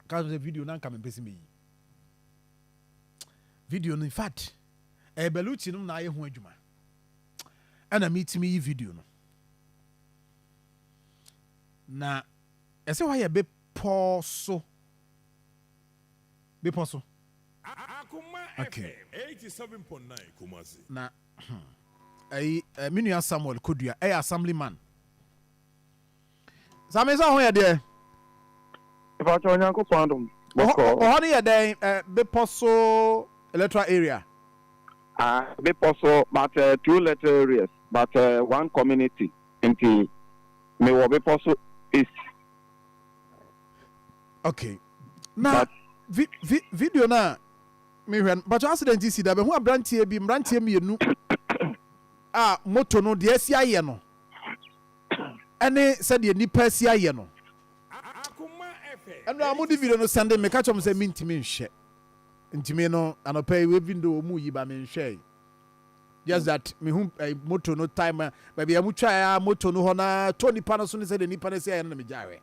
ka sɛ video na nka mempɛ sɛ meyi video no infact ɛyɛ baluti nom na ayɛ ho adwuma ɛna metumi yi video no na ɛsɛ hɔ yɛ bepɔ so bepɔ so okay. na hmm, ɛyi eh, me nua samuel kodua ɛyɛ assembly man Zameh, sɛ wo ho yɛ deɛ? Mpakyɛ Onyankopɔn adom bɔkɔ. Ɔ hɔ no yɛ dɛn ɛ bepɔ so electoral area? Ah bepɔ so but ɛ two electoral areas but ɛ one community nti me wɔ bepɔ so east. Ok na but, vi vi video no a me hwɛ no mpakyɛ accident si da bɛhu abranteɛ bi mmranteɛ mmienu a moto no deɛ asi ayɛ no. ɛne sɛdeɛ nnipa asi ayɛ no. Ɛnna wɔn de video no sɛn de meka kyerɛ wɔn sɛ mentumi nhwɛ. Ntumi no anɔpa yi even though wɔn yi ba menhwɛe. Just that mehu eh, moto no time baabi a wɔtwae a moto no hɔ na tɔ nipa no so ne sɛdeɛ nnipa no asi ayɛ no na megyae hwɛ.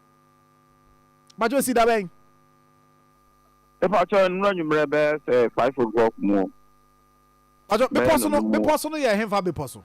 Bakyɛ si da bɛn? Ɛpakyɛ nnura nwummerɛ bɛyɛ sɛ five o'clock mu. Bakyɛ bepɔ so no bepɔ so no yɛ hefa bepɔ so?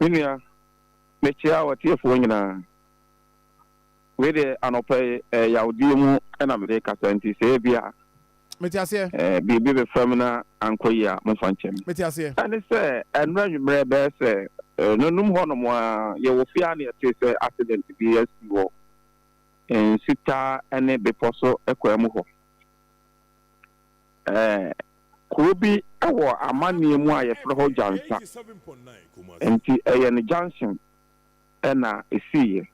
Me nua, mekyea w'atiefoɔ nyinaa. Wei deɛ anɔpa yi, eh, yawdeɛ mu na mede rekasa nti sɛ ebi a Mete aseɛ. eh, biribi bɛfa mu na ankɔ yie a, momfa nkyɛ me. Mete aseɛ. Ɛne sɛ, ɛnnora anwummerɛ bɛyɛ sɛ eh, nanum hɔnom a, yɛwɔ fie a na yɛtee sɛ accident bi asi wɔ eh, nsutaa ne bepɔ so kwan mu hɔ. Ɛɛ, kuro bi wɔ amanneɛ mu a wɔfrɛ hɔ Djansa, enti ɛyɛ no Jansen na ɛsiiɛ.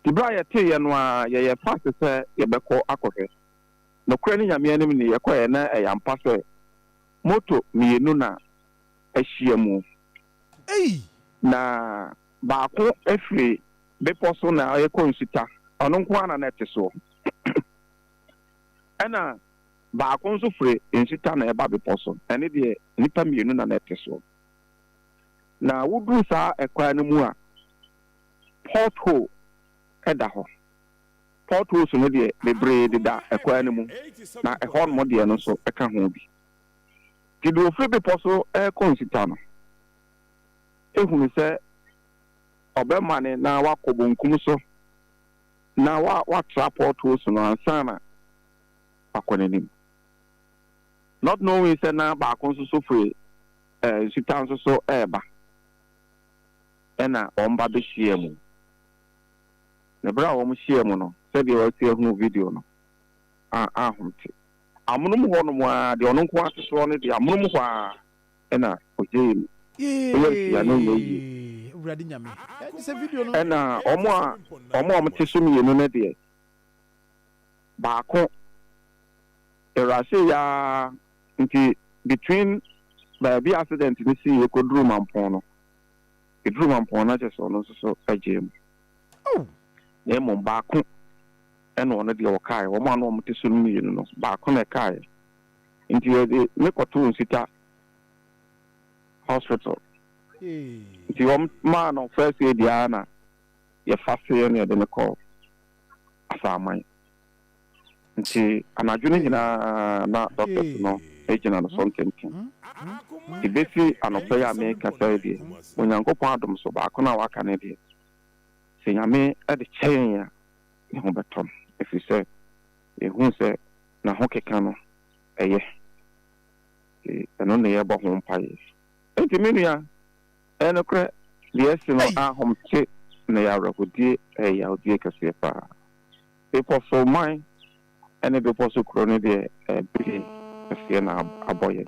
Nti berɛ a yɛteeɛ no ara, yɛyɛɛ fast sɛ yɛbɛkɔ akɔhwɛ. Nokorɛ ne Nyame anim nie, yɛkɔeɛ na ɛyɛ ampa sɛ moto mmienu na ahyia mu. Na baako firi bepɔ so na ɛrekɔ nsuta, ɔno nko ara na na ɛte soɔ. Ɛna baako nso firi nsita na ɛba bepɔ so, ɛne deɛ nnipa mmienu na na ɛte soɔ. Na woduru saa ɛkwan no mu a, port hole ɛda hɔ. Port holes no deɛ bebree deda ɛkwan no mu, na ɛhɔ nom deɛ no nso ɛka ho bi. Nti deɛ ɔfiri bepɔ so ɛrekɔ nsita no ɛhunu sɛ ɔbɛmane na wakɔ bonkum so. Na wa watra pɔtoo so no ansa na wakɔ n'anim. Not knowing sɛ na baako nso so firi eh, nsutaa nso so reba. Ɛna wɔn ba bɛhyiaa mu. Na berɛ a wɔn hyiaa mu no, sɛdeɛ wasi ahunu video no, a ahom te. Amonom hɔ nom ara, deɛ ɔno nko ara te soɔ no deɛ, amonom hɔ ara. ɛna ogyee no Yay nhyira na ɛnyɛ yie. Awurade Nyame eh gye sɛ video no Ɛna yɛ wɔn a kɛse wɔn a wɔn te so mmienu no deɛ baako erase yaa nti between baabi a accident no sii yɛ kɔduru Mampɔn no ɛduru Mampɔn no kyɛ sɛ ɔno nso so gyee mu Oh na mmom baako ɛna ɔno deɛ ɔkaeɛ wɔn a na wɔn te so no mmienu no baako na ɛkaeɛ. nti yɛde me kɔtoo Nsita hospital nti wɔn maa no first aid ara na yɛfa se ɛna yɛde no kɔ Asaaman nti anadwo no nyinaa na doctors no gyina no so ntenten nti besi anɔpa yi a mekasa yi deɛ Onyankopɔn adom so baako no a waka no deɛ sɛ Nyame de kyɛn a ne ho bɛtɔ no ɛfiri sɛ Yɛhuu sɛ n'ahokeka no yɛ, nti ɛno na yɛbɔ ho mpaeɛ. Enti me nua, ɛyɛ nokorɛ, deɛ asi no ahom te na ɛyɛ awerɛhodie, ɛyɛ yawdie kɛseɛ pa ara. Bepɔ so man ne bepɔ so kuro no deɛ ɛbɛdie kɛseɛ na abɔ yɛn.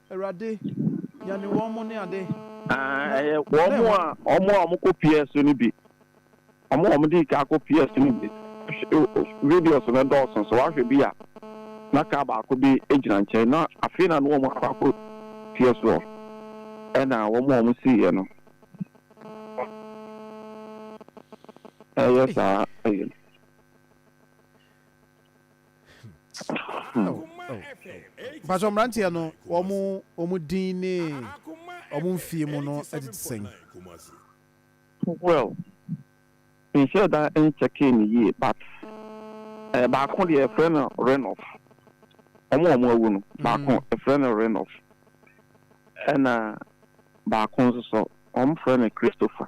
Awurade, nyane wɔn mo ne ade. Aah ɛyɛ wɔn mo a wɔn a wɔkɔ pier so no bi. Wɔn a wɔdii kan kɔ pier so no bi. Videos no dɔɔso so wahwɛ bi a na car baako bi gyina nkyɛn na afei na na wɔn akɔ akɔ pier so hɔ ɛna wɔn a wɔsiiɛ no ɛyɛ saa ɛyɛ. mpatsɔ mmeranteɛ no wɔn wɔn din ne wɔn mfie mu no ɛte te sɛn. Well, menhyɛɛ da nkyɛkee no yie but eh, baako deɛ yɛfrɛ no Renoff. Wɔn a wɔn awu no, baako mm. yɛfrɛ no Renoff. Ɛna baako nso so, wɔn frɛ no Christopher.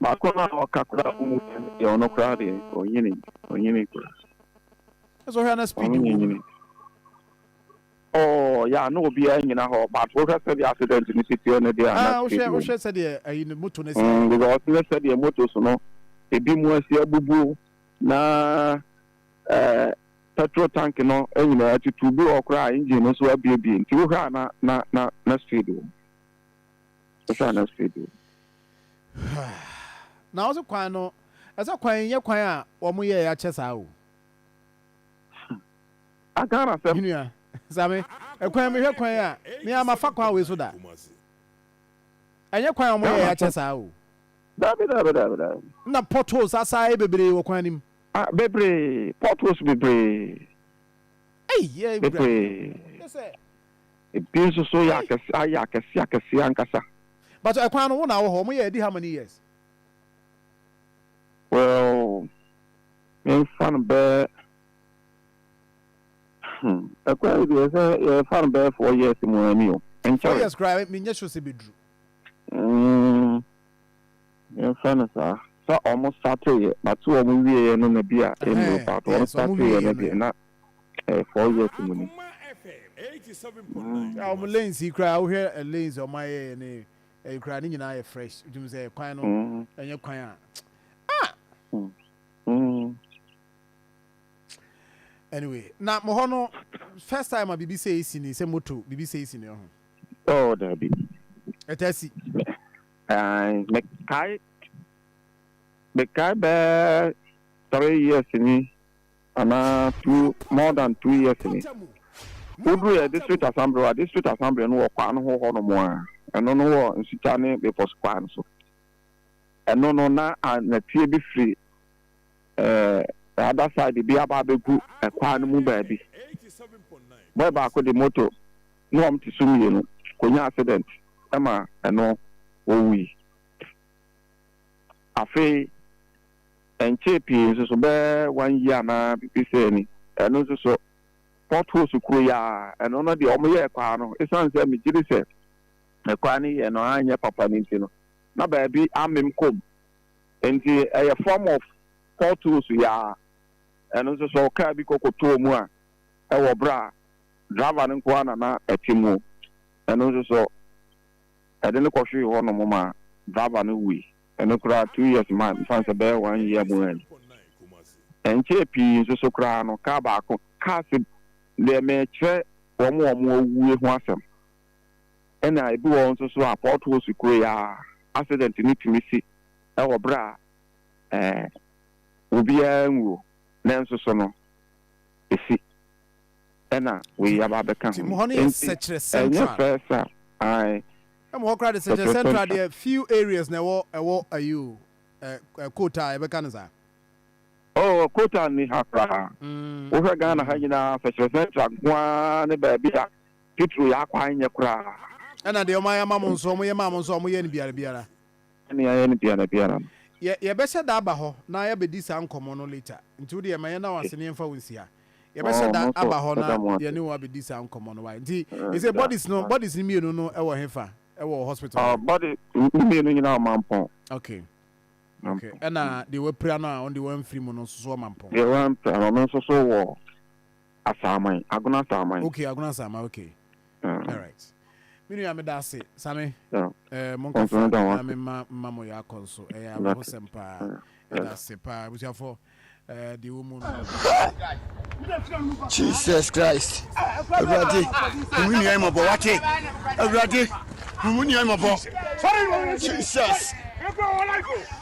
Baako no a ɔka koraa ɔmu pɛ no deɛ ɔno koraa deɛ ɔnyini ɔnyini koraa. Ɛsɛ ɔhwɛ na speed wɔ mu. Ɔɔ yaa na obiara nyina hɔ but wohwɛ sɛdeɛ accident no si teɛ no deɛ a na speed wɔ mu. Wohwɛ wohwɛ sɛdeɛ ayi no moto no si ayɛ. Because ne sɛdeɛ motos no ebi mu asi abubuo na ɛɛ petrol tank no nyinaa atutu bi wɔ hɔ koraa a engine no nso abuebue nti wohwɛ a na na na na speed wɔ mu. Ɛsɛ a na sɛ bi. Na ɔsɛ kwan no, ɛsɛ kwan nyɛ kwan a wɔn yɛ ya kyɛ saa o. Agana sɛm. Menua, same, ɛkwan mehwɛ kwan a, me a mafa kwan wei so da. Ɛnyɛ kwan a wɔn yɛ ya kyɛ saa o. Dabi dabi dabi dabi. Na potholes asaa bebree wɔ kwan nim. Ah, bebree, potholes bebree. Ei, yɛ bebree. Yɛ sɛ, Ebi nso so yɛ akɛse, ayɛ akɛse akɛse ankasa. But ɛkwan no, wo na wɔ hɔ. Wɔn yɛ adi how many years? Well, menfa no bɛ, hmm, ɛkwan yi deɛ sɛ yɛfa no bɛyɛ four years mu a, ɛmi o, ɛnkyɛre. Four years koraa, menyɛ sure sɛ ebeduru. Mm. Yɛmfrɛ no saa. Sɛ ɔmo starteeɛ, but sɛ ɔmo wieeɛ no na bi a ɛnno but ɔmo starteeɛ no deɛ na ɛyɛ four years mu ni. Hwɛ a ɔmo lanes yi koraa wohwɛ lanes a ɔmo ayɛɛ ne ɛyi koraa ne nyinaa yɛ fresh wotim sɛ kwan no ɛnyɛ kwan a ah anyway na mo hɔ no first time a biribi sɛ esi ni sɛ moto biribi sɛ esi ni ɔho. Oh dabi. Ɛtaa si. Aane mekae mekae bɛɛ three years ni anaa two more than two years ni woduruiɛ district assembly a district assembly no wɔ kwan ho hɔ nom a ɛno no wɔ nsukya ne bepɔso kwan no so ɛno no na nɛteɛ bi firi the other side bi aba abɛgu kwan no mu baabi. Boy baako de moto ne wɔn te so mmienu kɔnya accident ma ɛno wɔwui. Afei ɛnkyee pii nso so bɛyɛ one year anaa biribi sɛɛ ni ɛno nso so potholes kuro yi ara ɛno no deɛ wɔyɛɛ kwan no ɛsiane sɛ megye di sɛ kwan no yɛ no anyɛ papa no nti no na baabi amem kɔm. Nti ɛyɛ form of potholes yi ara. Ɛno nso sɛ car bi kɔkɔtɔɔ mu a ɛwɔ berɛ a driver no nko ara na na ɛte mu, ɛno nso sɔ ɛde no kɔhwee hɔ nom ma driver no wui. Ɛno koraa two years ma mefa no sɛ ɛbɛyɛ one year mu a ni. Ɛnkyɛɛ pii nso so koraa no car baako, cars deɛ merekyerɛ wɔn a wɔawue ho asɛm. Nna bi wɔ hɔ so so a port hose kuei a, accident no tumi si wɔ ber a obiara nnwu nanso so no esi. Nna wei aba abɛka ho. Ntsi nnyɛ first a ae. Ɛmu hɔ koraa de Sɛkyerɛ Central deɛ few areas na ɛwɔ ɛwɔ ayi o ɛ quota a yɛbɛka no saa. Oh quota nni ha koraa. Wohwɛ Ghana ha nyinaa Sɛkyerɛ Central nko ara ne baabi a Petro yɛ akwa nyɛ koraa. Ɛna deɛ wɔayɛ ama mo nso, wɔyɛ maa mo nso a, wɔyɛ no biara biara. Sɛnea yɛayɛ no biara biara no. Yɛ, yɛbɛhyɛ da aba hɔ na yɛabɛdi saa nkɔmmɔ no later. Nti wo deɛ ma yɛnna wo ase na yɛmfa wo nsia. Yɛbɛhyɛ da aba hɔ na yɛne wo abɛdi saa nkɔmmɔ no, wai? Nti, ɛsei bodies no, bodies no mmienu no wɔ hefa? Ɛwɔ hospital hɔ? Body, ne mmienu nyinaa wɔ Mampɔn. Okay. Okay. Ɛna deɛ wɔapira no a, ɔno deɛ wɔamfiri mu no nso so wɔ Mampɔn? Deɛ wɔampira no, ɔno nso so wɔ. Asaaman, Agona Asaaman. Okay, Agona Asaaman, okay. Uh, All right. Me nua meda ase, Same. Yeah. Eh, mo nkasa na me ma ma mo ya kɔ nso. Eh, awo ho sem pa. Meda ase pa. Busuafo, eh, di wo mu no. Jesus Christ. Awurade, mu nua mo bɔ wate. Awurade, mu nua mo bɔ. Jesus.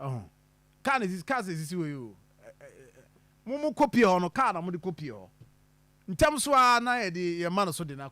Ɔho. Car na esisi car sɛ esisi hɔ yi o. Mo mo kɔ pie hɔ no car na mo de kɔ pie hɔ. Ntɛm so ara na yɛde yɛn mma no so de no.